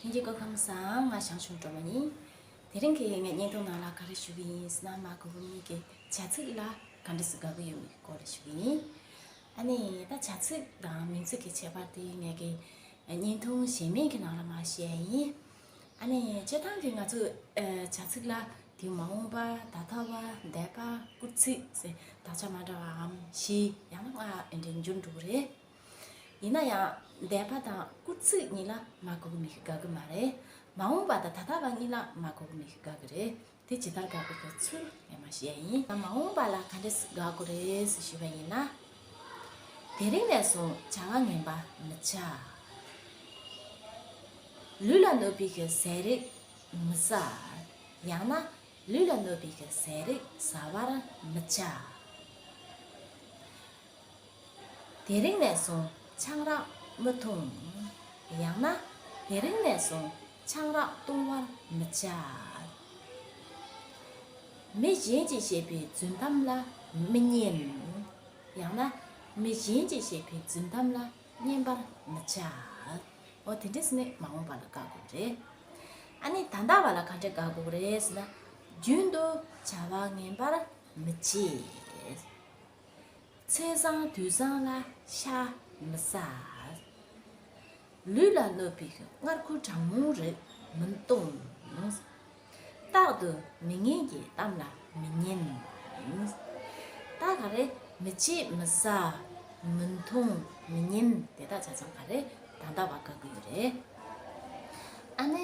ལྷན་རྒྱས་སྐུ་ཁམས་བཟང་ང་ཞང་ཞུང་གྲོ་མོ་ཡིན། དེ་རིང་གི་ངའི་བརྙན་ཐུང་ནང་ལ་ག་རེ་ཞུ་གི་ཡིན་ཟེར་ན་མ་གོ་བོ་གཉིས་ཀྱི་བྱ་ཚིག་ལ་ག་འདྲ་ཞིག་དགའ་གི་ཡོད་མེད་ཀྱི་སྐོར་རེ་ཞུ་གི་ཡིན། ཨ་ནི་ད་བྱ་ཚིག་དང་མིང་ཚིག་གི་ཁྱད་པར་དེ་ངའི་གི་བརྙན་ཐུང་གཞན་མེད་ཀྱི་ནང་ལ་མ་བཤད་ཡིན། ཨ་ནི་སྤྱིར་བཏང་གི་ང་ཚོས་བྱ་ཚིག་ལ་དེ་མ་འོངས་པ་ད་ལྟ་བ་འདས་པ་བསྐུར་ཚིག་ཟེར་དག་ཆ་མ་འདྲ་བའམ་བཞི་ཡང་ན་ལྔ་འདྲེན་རྒྱུར་འགྲོ་གི་རེད། ཡིན་ན་ཡང་འདས་པ་དང་སྐུ་ཚིག་གཉིས་ལ་མ་གོ་མི་དགའ་གི་མ་རེད། མ་འོངས་པ་དང་ད་ལྟ་བ་གཉིས་ལ་མ་གོ་མི་དགའ་གི་རེད། དེ་ཇི་ལྟར་དགའ་དགོས་པའི་ཚུལ་ངས་མ་ཤེས་ཡིན། མ་འོངས་པ་ལ་ག་འདྲས་དགའ་དགོས་རེད་ཞུས་པ་ཡིན་ན། དེ་རིང་ནས་བཟུང་བྱ་བ་ངན་པ་མི་བྱ། ལུས་ལ་གནོད་པའི་གི་ཟས་རིགས་མི་ཟ། ཡང་ན་ལུས་ལ་གནོད་པའི་གི་ཟས་རིགས་ཟ་བར་མི་བྱ། དེ་རིང་ནས་བཟུང་ཆང་རག་མི་འཐུང། ཡང་ན། དེ་རིང་ནས་བཟུང་ཆང་རག་བཏུང་བར་མི་བྱ། མི་གཞན་གྱིས་བཤད་པའི་རྫུན་གཏམ་ལ་མི་མཉན། ཡང་ན། མི་གཞན་གྱིས་བཤད་པའི་རྫུན་གཏམ་ལ་མཉན་པར་མི་བྱ། འོ་དེ་འདྲས་ནི་མ་འོངས་པ་ལ་དགག་དགོས་རེད། ཨ་ནི་ད་ལྟ་བ་ལ་གང་འདྲས་དགག་དགོས་རེད་ཟེར་ན། རྒྱུན་དུ་བྱ་བ་ངན་པར་མི་བྱེད། མཚན་བཟང་དུས་བཟང་ལ་ཤ་མི་ཟ། ལུས་ལ་གནོད་པའི་མངར་ཁུ་གྲང་མོའི་རིགས་མི་གཏོང། རྟག་ཏུ་མི་ངན་གྱི་གཏམ་ལ་མི་ཉན། དག་ག་རེ་མི་བྱེད་མི་ཟ་མི་འཐུང་མི་ཉན་དེ་དག་ཆ་ཚང་ག་རེ་ད་ལྟ་བ་དགའ་གི་ཡོད་རེད། ཨ་ནི།